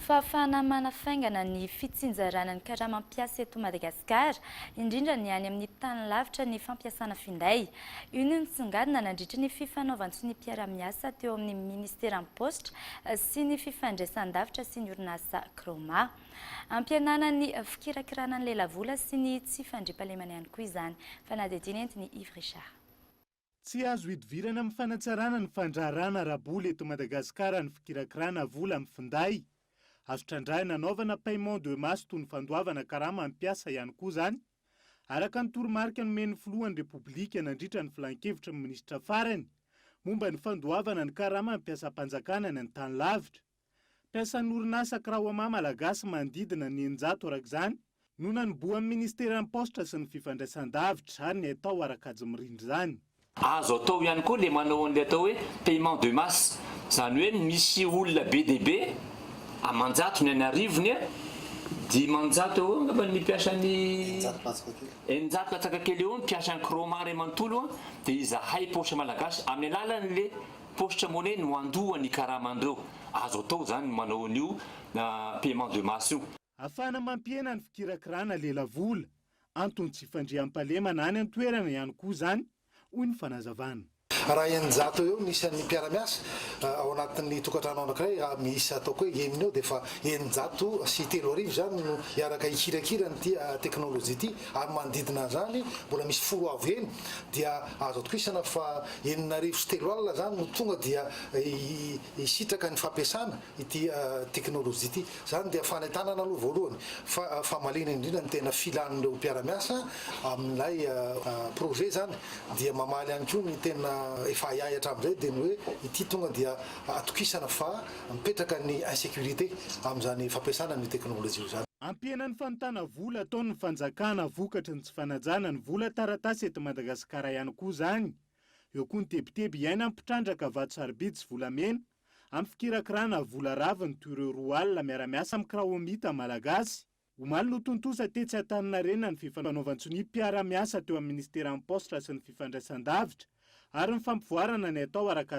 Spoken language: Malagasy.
Fahafahana manafaingana ny fitsinjarana ny karama mpiasa eto Madagasikara, indrindra ny any amin'ny tany lavitra ny fampiasana finday. Io no nisongadina nandritra ny fifanaovan-tsonimpiaramiasa teo amin'ny Ministeran'ny Paositra sy ny Fifandraisan-davitra sy ny orinasa Croma. Ampihenana ny fikirakirana ny lelavola sy ny tsy fandriampahalemana ihany koa izany. Fanadihadiana entin'i Yves Richard. Tsy azo hidivirana amin'ny fanatsarana ny fandraharahana ara-bola eto Madagasikara ny fikirakirana vola amin'ny finday. Azo trandrahina anaovana paiement de masse toy ny fandoavana karama amin'ny mpiasa ihany koa izany, araka ny toromarika nomen'ny filohan'ny Repoblika nandritra ny filan-kevitry ny minisitra farany momba ny fandoavana ny karama amin'ny mpiasam-panjakana any an-tany lavitra. Mpiasan'ny orinasa Kraoma malagasy manodidina ny eninjato araka izany no nanobohan'ny Ministeran'ny Paositra sy ny Fifandraisandavitra ary ny haitao ara-kajy mirindra izany. Azo atao ihany koa ilay manao an'ilay atao hoe paiement de masse, izany hoe misy olona be dia be, aman-jatony any arivony, dimanjato eo angamba ny mpiasa ny, eninjato latsaka kely eo ny mpiasan'ny Kraoma iray manontolo dia izahay Paositra Malagasy amin'ny alalan'ilay Poste monnaie no handoa ny karaman'ireo. Azo atao izany ny manao an'io paiement de masse io. Afahana mampihena ny fikirakirana lelavola. Anton'ny tsy fandriampahalemana any an-toerana ihany koa izany, hoy ny fanazavana. Raha eninjato eo eo ny isan'ny mpiara-miasa ao anatin'ny tokantrano anankiray, raha miisa ataoko hoe enina eo dia efa eninjato sy telo arivo izany no hiaraka hikirakira an'ity teknolojia ity. ary manodidina an'izany mbola misy folo avo heny dia azo atokisana fa enina arivo sy telo alina izany no tonga dia hisitraka ny fampiasana ity teknolojia ity. Izany dia fanentanana aloha voalohany fa famaliana indrindra ny tena filan'ireo mpiara-miasa amin'ilay projet izany dia mamaly ihany koa ny tena efa ahiahy hatramin'izay dia ny hoe ity tonga dia atokisana fa Mipetraka ny insécurité amin'izany fampiasana ny teknolojia izany. Ampihena ny fanontana vola ataon'ny fanjakana vokatry ny tsy fanajana ny vola taratasy eto Madagasikara ihany koa izany. Eo koa ny tebiteby iaina ny mpitrandraka vato sarobidy sy volamena amin'ny fikirakirana vola raviny toy ireo roa alina miara-miasa amin'ny Kraomita malagasy. Omaly no tontosa tetsy Antaninarenina ny fifanaovan-tsonia mpiara-miasa teo amin'ny minisiteran'ny Paositra sy ny fifandraisan-davitra ary ny fampivoarana ny atao ara-kajy.